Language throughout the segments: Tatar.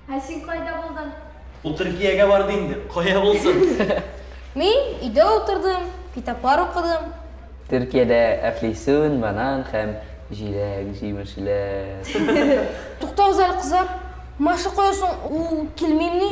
Ә син кайда булдың? Ул Төркиягә барды инде. Кая булсын? Мин өйдә утырдым, китаплар укыдым. Төркиядә әфлисун, банан һәм җиләк җимешләр. Туктагыз әле, кызлар. Маша кая соң? Ул килмимени?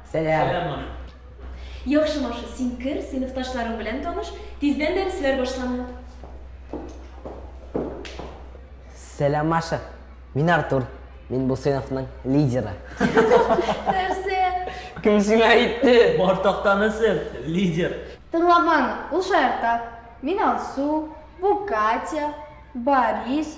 Сәлам! Сәлам, Маша! Яхшы, Маша, син кер, сыйныфташларың белән таныш, тиздән дәресләр башлана. Сәлам, Маша! Мин Артур, мин бу сыйныфның лидеры. Нәрсә? Кем сиңа әйтте? Бар тактаны сер, лидер! Тыңламаны, ул шаярта. Мин Алсу, бу Катя, Борис,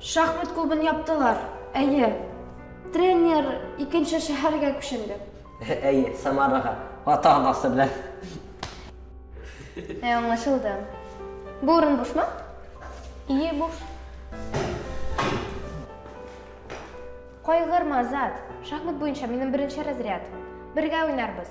Шахмат клубын яптылар, әйе. Тренер икенче шәһәргә күченде. Әйе, Самарага, ата-анасы белән. Ә, аңлашылды. Бу урын бушмы? Ие, буш. Кайгырма, Азат. Шахмат буенча минем беренче разряд. Бергә уйнарбыз.